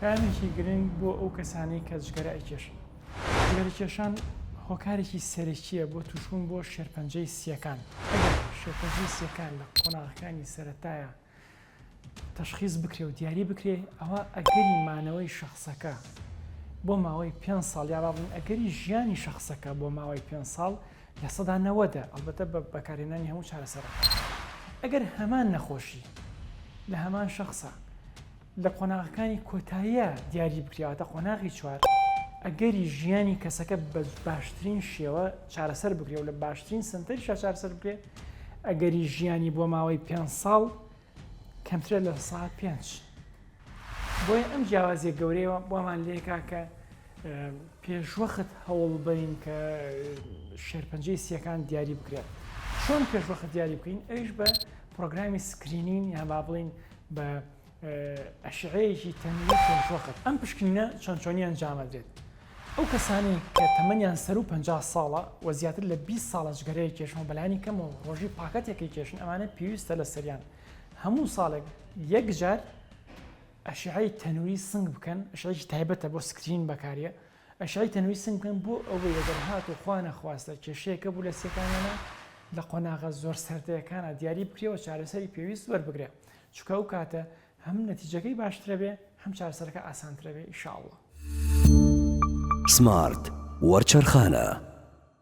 پەیامێکی گرنگ بۆ ئەو کەسانەی کە جگەرە ئەیکێشن، جگەرەکێشان هۆکارێکی سەرەکییە بۆ تووشبوون بۆ شێرپەنجەی سییەکان، ئەگەر شێرپەنجەی سییەکان لە قۆناغەکانی سەرەتایا تەشخیس بکرێ و دیاری بکرێ ئەوا ئەگەری مانەوەی شەخسەکە بۆ ماوەی پێنج ساڵ یا بابڵێین ئەگەری ژیانی شەخسەکە بۆ ماوەی پێنج ساڵ لە سەدا نەوەدە ئەڵبەتە بە بەکارهێنانی هەموو چارەسەرەکان ئەگەر هەمان نەخۆشی لە هەمان شەخسا لە قۆناغەکانی کۆتاییە دیاری بکرێواتە قۆناغی چوار ئەگەری ژیانی کەسەکە بە باشترین شێوە چارەسەر بکرێ و لە باشترین سنتەری شاچارسەر بکرێ ئەگەری ژیانی بۆ ماوەی پێ ساڵ کەمترە لە سا پێنج بۆیە ئەم جیاوازیە گەورەیەوە بۆمان لێکا کە پێشوەخت هەوڵ بین کە شێرپەنجەی سیەکان دیاری بکرێت چۆن پێشوەخت دیاری بکەین ئەوش بە پرۆگرامی سکرینین یا با بڵین بە ئەشعەیەکی تەنگی پێنج وەخت ئەم پشکنینە چۆن چۆنی ئەنجامەدرێت ئەو کەسانی کە تەمەنیان سەر و پ ساڵە و زیاتر لە 20 ساڵە جگەرەیە کێشەوە بەلانی کەم و ڕۆژی پاکەتێکی کێشن ئەمانە پێویستە لە سەریان هەموو ساڵێک یەکجار ئەشعی تەنووری سنگ بکەن شێکی تایبەتە بۆ سکرین بەکاریە ئەشعەی تەنووی سنگ بکەن بۆ ئەوەی ئەگەر هاتوو خوا نەخواستە کێشەیەکە بوو لە سیەکانیانا لە قۆناغە زۆر سەردەکانا دیاری بکرێ و چارەسەری پێویست وەربگرێ چونکە ئەو کاتە هەم نەتیجەکەی باشترە بێ هەم چارەسەرەکە ئاسانترە بێ ئیشاڵڵا. سمارت وەرچەرخانە.